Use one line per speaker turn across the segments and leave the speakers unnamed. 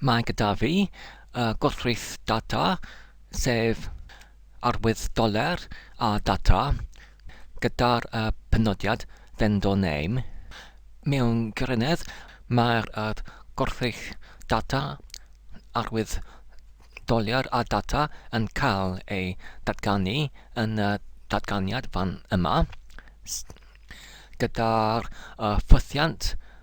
Mae gyda fi y gwrthrych data, sef arwydd doler a data, gyda'r penodiad vendor name. Mewn gwirionedd, mae'r gwrthrych data, arwydd doler a data yn cael ei datganu yn y datganiad fan yma, gyda'r ffwythiant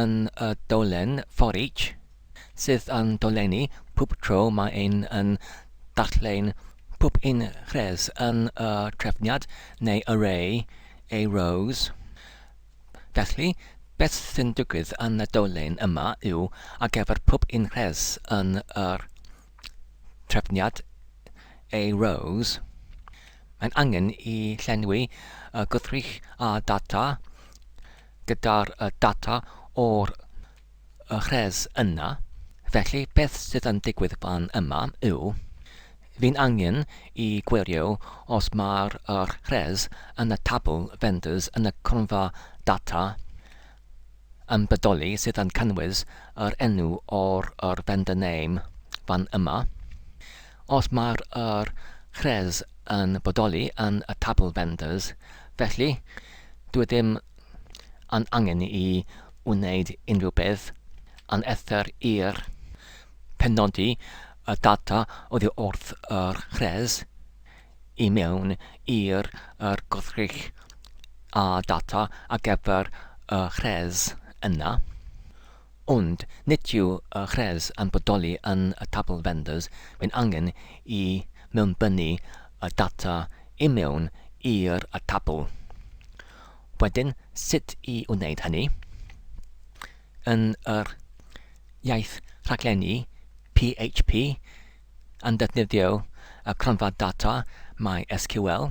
yn y dolen for each, sydd yn dolenni pob tro mae ein yn darllen pob un rhes yn y trefniad neu array ei rows. Felly, beth sy'n digwydd yn y dolen yma yw, ar gyfer pob un rhes yn y trefniad ei rows, mae'n angen i llenwi y gwrthrych â data gyda'r data o'r rhes yna, felly beth sydd yn digwydd fan yma yw, fi'n angen i gwirio os mae'r rhes yn y tabl vendors yn y cronfa data yn bodoli sydd yn cynnwys yr enw o'r vendor name fan yma. Os mae'r yr chrez yn bodoli yn y tabl vendors, felly, dyw e ddim yn angen i wneud unrhyw beth yn eithr i'r penodi y data oddi wrth yr chrez i mewn i'r yr gwrthrych â data ar gyfer y chrez yna. Ond nid yw y gwres yn bodoli yn y tabl vendors, mae'n angen i mewnbynnu y data i mewn i'r tabl. Wedyn, sut i wneud hynny? Yn yr iaith rhaglennu PHP yn defnyddio y cronfa data MySQL,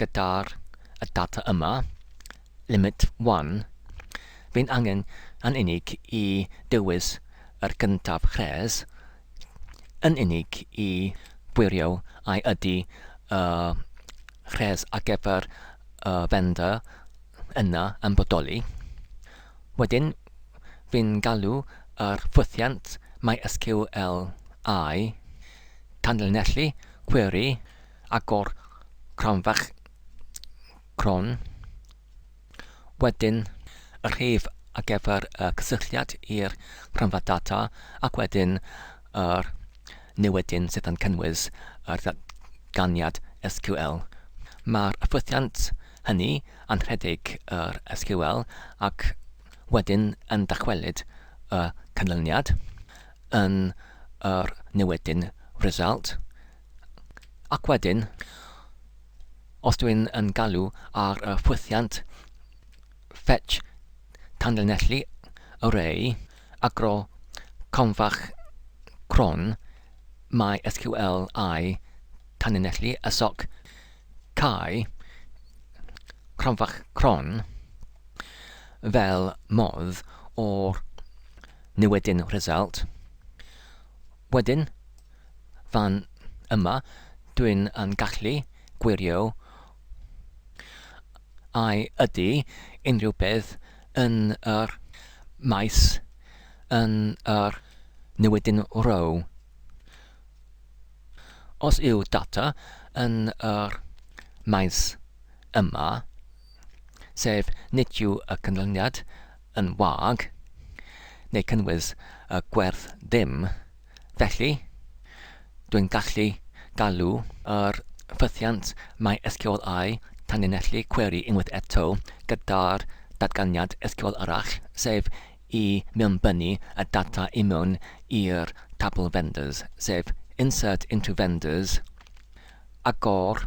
Gyda'r data yma, limit one, fe'n angen yn unig i dywys yr gyntaf rhes yn unig i wirio ai ydy y rhes ar gyfer y vendor yna yn bodoli. Wedyn, fe'n galw yr ffwythiant MySQL I, tanlinellu cweri, agor cranfach cron, wedyn y rhif ar gyfer y cysylltiad i'r cranfa data ac wedyn yr newydyn sydd yn cynnwys yr ddatganiad SQL. Mae'r ffwythiant hynny yn rhedeg yr SQL ac wedyn yn dychwelyd y canlyniad yn yr newydyn result Ac wedyn, os dw i'n yn galw ar y ffwythiant fetch tanlinellu array agro cronfach cron MySQL I tanlinellu y soc cau cronfach cron fel modd o'r newidyn result Wedyn, fan yma, dwi'n yn gallu gwirio a ydy unrhyw beth yn yr maes yn yr newidyn row. Os yw data yn yr maes yma, sef nid yw y canlyniad yn wag, neu cynnwys y gwerth ddim, felly, dwi'n gallu galw yr ffythiant MySQL I tanlinellu cweri unwaith eto gyda'r datganiad SQL arall, sef i mewnbynnu y data i mewn i'r tabl vendors, sef insert into vendors, agor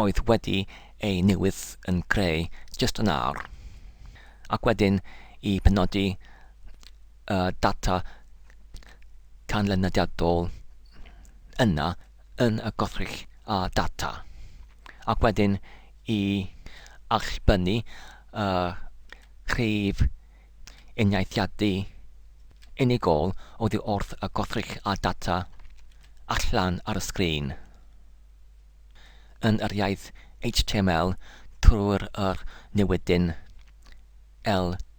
oedd wedi ei newid yn greu jyst yn awr, ac wedyn i penodi y data canlyniadol yna yn y gwrthrych a data, ac wedyn i allbynnu y rhif uniaethiadu unigol oddi wrth y gwrthrych a data allan ar y sgrin. yn yr iaith html trwy'r yr newydyn LRATSTR.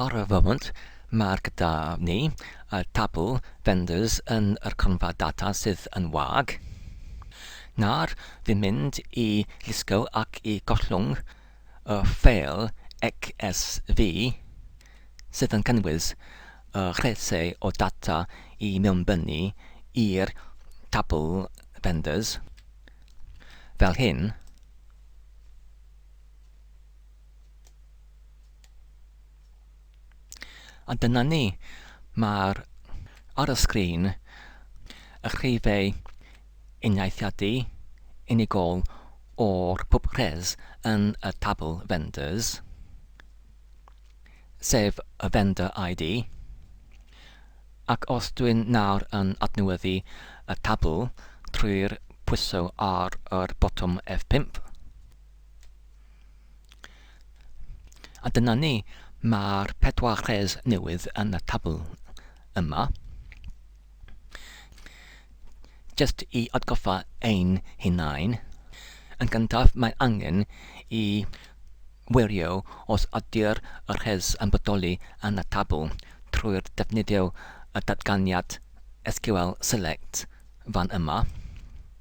Ar y foment, mae'r gyda ni y tabl vendors yn yr cronfa data sydd yn wag. Nawr, fi'n mynd i lusgo ac i gollwng y ffeil CSV sydd yn cynnwys y llysiau o data i mewnbynnu i'r tabl Vendors, fel hyn. A dyna ni. Mae'r ar y sgrin y rhifau uniaethiadu unigol o'r pub res yn y tabl vendors, sef y vendor ID, ac os dwi'n nawr yn adnewyddu y tabl trwy'r pwyso ar yr botwm F5, A dyna ni, mae'r pedwar rhes newydd yn y tabl yma. Jyst i atgoffa ein hunain, yn gyntaf mae angen i wirio os ydy'r rhes yn bodoli yn y tabl trwy'r defnyddio y datganiad SQL select fan yma.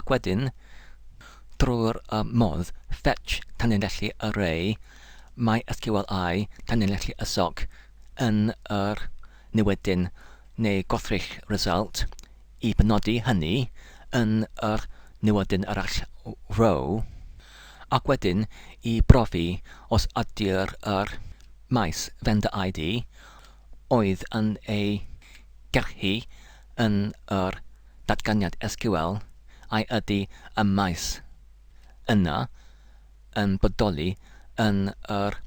Ac wedyn, drwy'r modd Fetch tanlinellu Array, MySQLi tanlinellu y soc yn yr niwedyn neu gwrthrych result i benodi hynny yn yr niwedyn arall Row, ac wedyn i brofi os ydy'r yr maes vendor ID oedd yn ei gerhu yn yr datganiad SQL a ydy y maes yna yn bodoli yn yr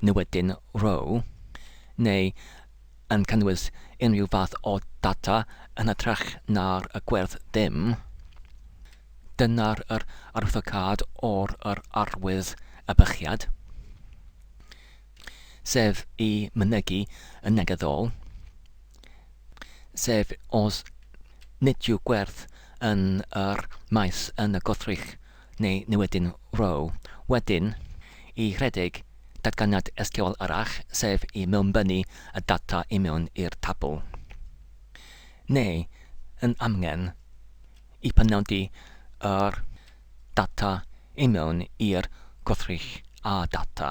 newydyn row neu yn cynnwys unrhyw fath o data yn hytrach na'r gwerth dim, dyna'r yr arwyddocâd or yr arwydd ebychiad. sef i mynegi yn negyddol, sef os nid yw gwerth yn yr maes yn y gwrthrych neu niwedyn row. Wedyn, i rhedeg datganiad SQL arall, sef i mewnbynnu y data i mewn i'r tabl. Neu, yn amgen, i penodi yr data i mewn i'r gwrthrych a data.